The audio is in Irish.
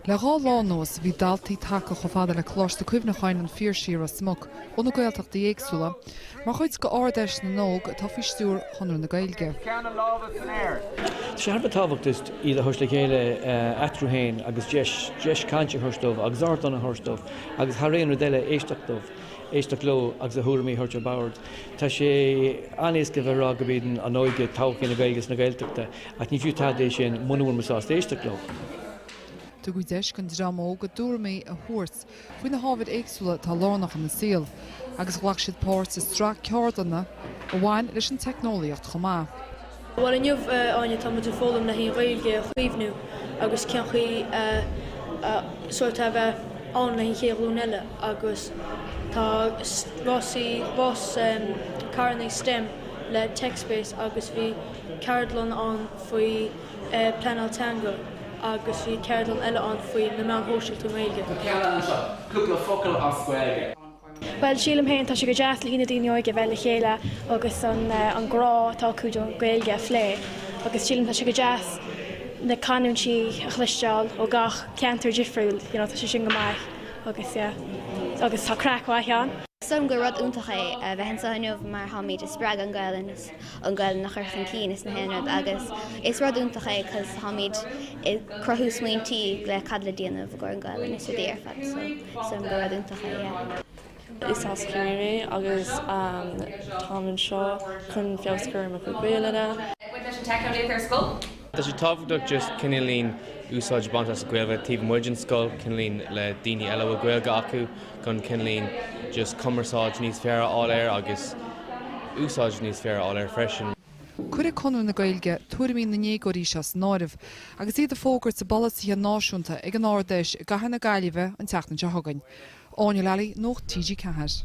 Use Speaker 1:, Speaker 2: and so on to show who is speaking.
Speaker 1: Le dhá lá anuas bhí daltaí tagtha chomh fada le Coláiste Cuimhneacháin an Phiarsaigh i Ros Muc ó na Gaeltachtaí éagsúla mar chuid de Ard Fheis na nÓg atá faoi stiúir Chonradh na Gaeilge.
Speaker 2: Tá sé thar a bheith tábhachtach iad a thabhairt le chéile eatarthu féin agus deis, deis cainte a thabhairt dóibh agus ardán a thabhairt dóibh agus thar aon rud eile éisteacht dóibh, éisteacht leo agus a thuairimí a thabhairt ar bord. Tá sé an-éasca a bheith ag rá gurb í an óige todhchaí na Gaeilge is na Gaeltachta, Ach ní fiú tada é sin muna bhfuil muid sásta éisteacht leo.
Speaker 1: Tugadh deis don dream óg a dtuairimí a thabhairt faoi na hábhair éagsúla atá lárnach ina saol agus ghlac siad páirt i sraith ceardlanna a bhain leis an teicneolaíocht chomh maith. Bhuel inniu,
Speaker 3: a Áine, tá muid ag foghlaim le haghaidh an Ghaeilge a chaomhnú agus cén chaoi sórt a bheith ann le haghaidh an chéad ghlúin eile agus tá rásaí bus, carrannaí stem le TechSpace agus bhí, ceardlann ann faoi pleanáil teanga agus bhí ceardlann eile ann faoi na meáin shóisialta i nGaeilge. Tá ceardlann anseo, cúpla
Speaker 4: focal as Gaeilge. Bhuel, sílim
Speaker 5: féin, tá sé go deas le haghaidh na daoine óga a bheith le chéile agus an grá atá acu don Ghaeilge a phlé agus sílim tá sé go deas na canúintí a chloisteáil ó gach ceantar difriúil, you know, tá sé sin go maith agus yeah, agus tá craic mhaith ann. Sílim gur rud
Speaker 6: iontach é a bheith anseo inniu mar táimid ag spreagadh an Gaelainn. an Gaelainn a chur chun cinn is gach aon rud agus is rud iontach é cos táimíd ag cruthú smaointí le cad le déanamh i gcóir an Gaelainn is rudaí ar fad so sílim gur rud iontach é yeah. Is
Speaker 7: as Ciarraí mé agus táim anseo chun feabhas a chur ar mo chuid Gaelainne.
Speaker 8: Tá sé tábhachtach just cineálín úsáid a baint as an Ghaeilge taobh amuigh den scoil, cineálín le daoine eile a bhfuil Gaeilge acu chun cineálín just cumarsáid níos fearr a fháil air agus úsáid níos fearr a fháil air freisin. Cuirfidh
Speaker 1: Conradh na Gaeilge tuairimí na ndéagóirí seo san áireamh agus iad ag fógairt a bpolasaithe náisiúnta ag an Ard-Fheis i gCathair na Gaillimhe an tseachtain seo chugainn. Áine Lally, Nuacht TG4.